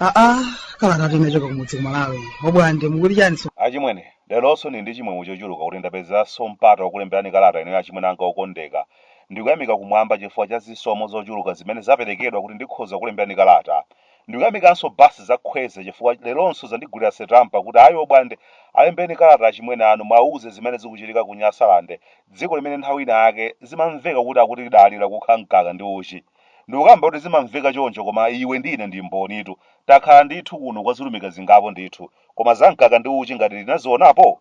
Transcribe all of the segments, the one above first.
aa kalata tinachoka kumudzi kumalawi obwande mukuti chani so achimwene leronso ndili ndi chimwemwe chochuluka kuti ndapezanso mpata wakulemberani kalata ino achimwene anga okondeka ndikuyamika kumwamba chifukwa cha zisomo zochuluka zimene zaperekedwa kuti ndikhoza kulemberani kalata Ndikuyamikanso basi za Khweza chifukwa leronso zandigulira setampa kuti ayi obwande alembeni kalata achimwene anu muwauze zimene zikuchitika ku Nyasalande dziko limene nthawi ina yake zimamveka kuti akuti lidali lakukha mkaka ndi uchi. Ndikukamba kuti zimamveka choncho koma iwe ndi ine ndi mbonitu. Takhala ndithu kuno kwa zilumika zingapo ndithu koma za mkaka ndi uchi ngati unazionapo?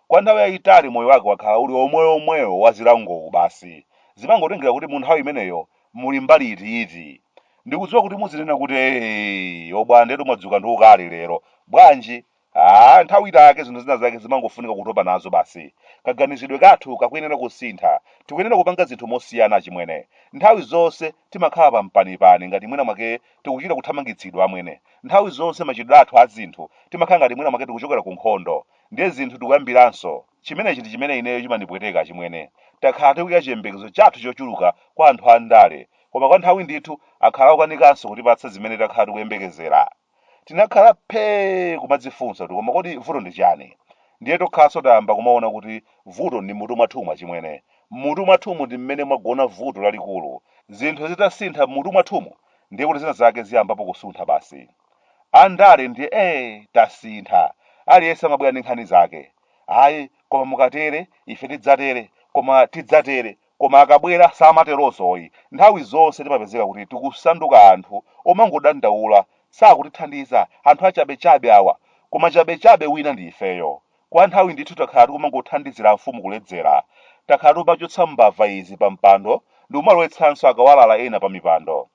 Kwa nthawi yayitali moyo wake wakhala uli omweomweo wa zilangowu basi. Zimangotengera kuti mu nthawi imeneyo muli mbali iti yiti. Ndikudziwa kuti muzinena kuti eeyi obwandetu mwadzuka ndi ukali lero. Bwanji? Aaa nthawi ita yake zinthu zina zake zimangofunika kutopa nazo basi. Kaganizidwe kathu kakuyenera kusintha. Tikuyenera kupanga zinthu mosiyana achimwene. Nthawi zonse timakhala pa mpanipani ngati mwina mwake tikuchita kuthamangitsidwa amwene. Nthawi zonse machitidwe athu a zinthu timakhala ngati mwina mwake tikuchokera ku nkhondo. Ndiye zinthu tikuyambiranso. Chimenechi ndi chimene ineyo chimandipweteka achimwene. Takhala tikuika chiyembekezo chathu chochuluka kwa anthu a ndale, koma kwa nthawi ndithu akhala akukanikanso kutipatsa zimene takhala tikuyembekezera. Tinakhala phee kumadzifunsa kuti koma kodi vuto ndi chiyani? Ndiye tokhaso tayamba kumaona kuti vuto ndi m'mutu mwathumu achimwene. M'mutu mwathumu ndi mmene mwagona vuto lalikulu. Zinthu zitasintha m'mutu mwathumu, ndiye kuti zina zake ziyambapo kusuntha basi. Andale ndiye ee tasintha aliyense amabwera ndi nkhani zake ayi koma mukatere ife tidzatere koma tidzatere koma akabwera samaterozoyi nthawi zonse timapezeka kuti tikusanduka anthu omangodandaula sakutithandiza anthu achabechabe awa koma wachabechabe wina ndi ifeyo kwa nthawi ndithu takhala tikumangothandizira mfumu kuledzera takhala tikumachotsa mbava izi pampando ndikumalowetsanso akawalala ena pamipando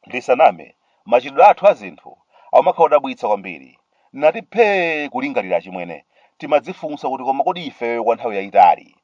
Ndisaname, machitidwe athu a zinthu akumakhala odabwitsa kwambiri. Ndinati phee kulingalira achimwene, timadzifunsa kuti koma kodi ifeyo kwa nthawi yayitali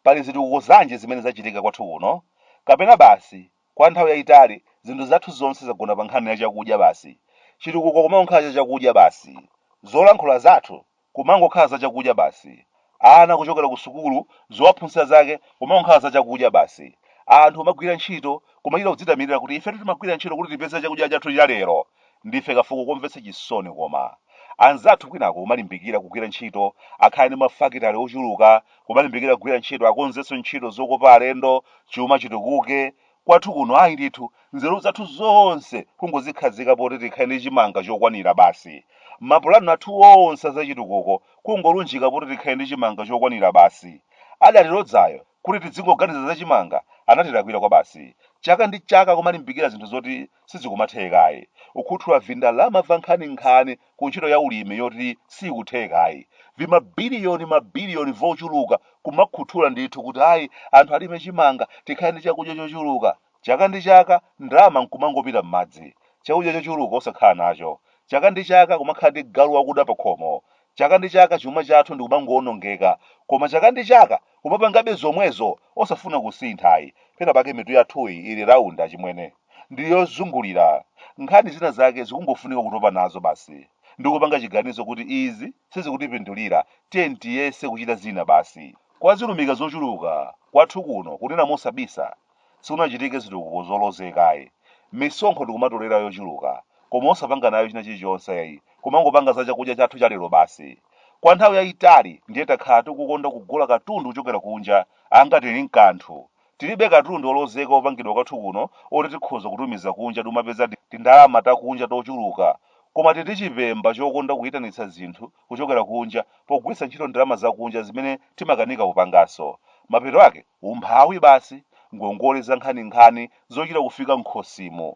pali zitukuko zanji zimene zachitika kwathu kuno? Kapena basi kwa nthawi yayitali zinthu zathu zonse zagona pa nkhani ya chakudya basi, chitukuko kumangokhala cha chakudya basi, zolankhula zathu kumangokhala za chakudya basi. Ana kuchokera ku sukulu, zowaphunzitsa zake kumangokhala za chakudya basi. Anthu kumagwira ntchito, kumachita kudzitamirira kuti ifetu timagwira ntchito kuti tipeze chakudya chathu cha lero. Ndife kafuko komvetsa chisoni koma. Anzathu kwinako kumalimbikira kugwira ntchito, akhale ndi mafakitale ochuluka, kumalimbikira kugwira ntchito, akonzenso ntchito zokopa alendo, chuma chitukuke, Kwathu kuno ayi ndithu, nzeru zathu zonse kungozikhazika poti tikhale ndi chimanga chokwanira basi. Mapulani athu onse a zachitukuko kungolunjika poti tikhale ndi chimanga chokwanira basi. Adatilodzayo kuti tidzingoganiza za chimanga anatilakwira kwabasi. Chaka ndi chaka kumalimbikira zinthu zoti sizikumathekayi. Ukhuthula vindalama va nkhaninkhani ku ntchito ya ulimi yoti siikuthekayi. Vimabiliyoni mabiliyoni vochuluka kumakhuthula ndithu kuti ayi anthu alime chimanga tikhale ndi chakudya chochuluka. Chaka ndi chaka ndalama nkumangopita m'madzi. Chakudya chochuluka osakhala nacho. Chaka ndi chaka kumakhala ndi galu wakuda pakhomo. Chaka ndi chaka chuma chathu ndikumangowonongeka koma chaka ndi chaka kumapangabe zomwezo osafuna kusintha ayi. Pena pake mitu yathuyi ili round achimwene. Ndi yozungulira. Nkhani zina zake zikungofunika kutopa nazo basi ndikupanga chiganizo kuti izi sizikutipindulira tiyeni tiyese kuchita zina basi. Kwa zilumika zochuluka kwathu kuno kunena mosabisa Sikunachitike zitukuko zolozeka ayi. Misonkho tikumatolera yochuluka, koma osapanga nayo china chilichonse ayi, kumangopanga za chakudya chathu cha lero basi. Kwa nthawi yayitali ndiye takhala tikukonda kugula katundu kuchokera kunja, angati tili nkanthu. Tilibe katundu olozeka opangidwa kwathu kuno oti tikhoza kutumiza kunja n'kumapeza tindalama takunja tochuluka, koma tili ndi chipemba chokonda kuyitanitsa zinthu kuchokera kunja pogwiritsa ntchito ndalama zakunja zimene timakanika kupanganso. Mapeto ake, umphawi basi, ngongole zankhaninkhani zochita kufika m'khosimu.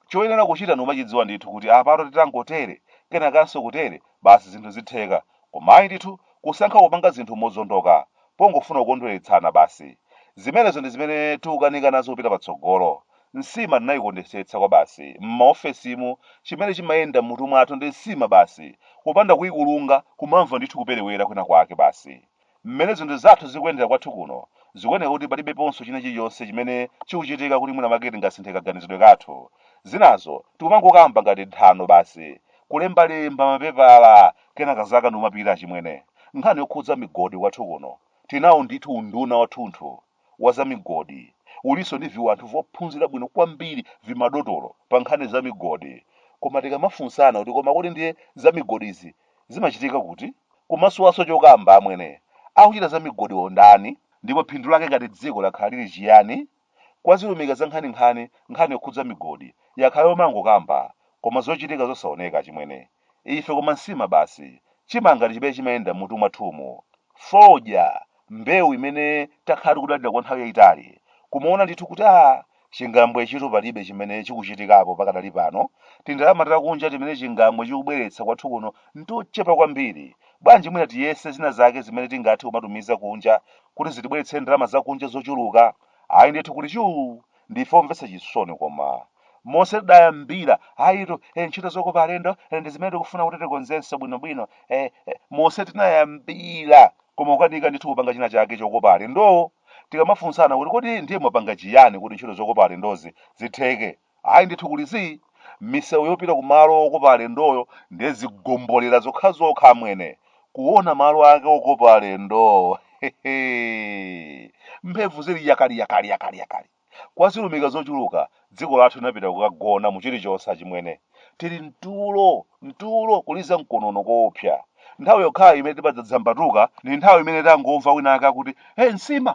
Choyenera kuchita ndikumachidziwa ndithu kuti apatu titangotere, kenakanso kutere, basi zinthu zitheka. Koma ayi ndithu, kusankha kupanga zinthu mozondoka, pongofuna kukondweretsana basi. Zimenezo ndi zimene tikukanika nazo kupita patsogolo. Nsima tinayikondesetsa kwabasi m'maofesimu, chimene chimayenda m'mutu mwathu ndi nsima basi, kupanda kuyikulunga kumamva ndithu kuperewera kwina kwake basi. M'mene zinthu zathu zikuyendera kwathu kuno, zikuoneka kuti palibeponso china chilichonse chimene chikuchitika kuti mwina mwake tingasinthe kaganizidwe kathu. Zinazo tikumangokamba ngati nthano basi, kulembalemba mapepala kenaka zaka ndikumapita achimwene nkhani yokhudza migodi kwathu kuno tinawo ndithu unduna wathunthu wa za migodi ulinso ndi viwanthu vophunzira bwino kwambiri vimadotolo pa nkhani za migodi koma tikamafunsana kuti koma kodi ndiye za migodizi zimachitika kuti kumasowanso chokamba amwene akuchita za migodiwo ndani ndipo phindu lake ngati dziko lakhala lili chiyani Kwa zilumika za nkhaninkhani, nkhani yokhudza migodi yakhala yomangokamba koma zochitika zosaoneka achimwene ife koma nsima basi, chimanga ndi chimene chimayenda m'mutu mwathumu, fodya, mbewu imene takhala tikudalira kwa nthawi yaitali, kumaona ndithu kuti aa chingambwechitu palibe chimene chikuchitikapo pakadali pano, tindalama takunja timene chingambwe chikubweretsa kwathu kuno n'tochepa kwambiri, bwanji mwina tiyese zina zake zimene tingathe kumatumiza kunja kuti zitibweretse ndalama zakunja zochuluka? Ayi ndithu kuli chuu! Ndife omvetsa chisoni koma. Monse tidayambira, ayitu, eh, ntchito zokopa alendo eh, ndi zimene tikufuna kuti tikonzenso bwinobwino. Eh, eh, monse tinayambira koma kukanika ndithu kupanga china chake chokopa alendowo. Tikamafunsana kuti kodi ndiye mwapanga chiyani kuti ntchito zokopa alendozi zitheke? Ayi ndithu kuli zii, misewu yopita ku malo okopa alendoyo ndiye zigombolera zokhazokha amwene. Kuona malo ake okopa alendowo hehehe! Mphemvu zili yakaliyakaliyakaliyakali. Kwa zilumika zochuluka, dziko lathu linapita kukagona mu chilichonse achimwene. Tili mtulo, mtulo, kuliza mkonono koopsa. Nthawi yokhayo imene timadzadzambatuka ndi nthawi imene tangomva wina wake akuti, He nsima!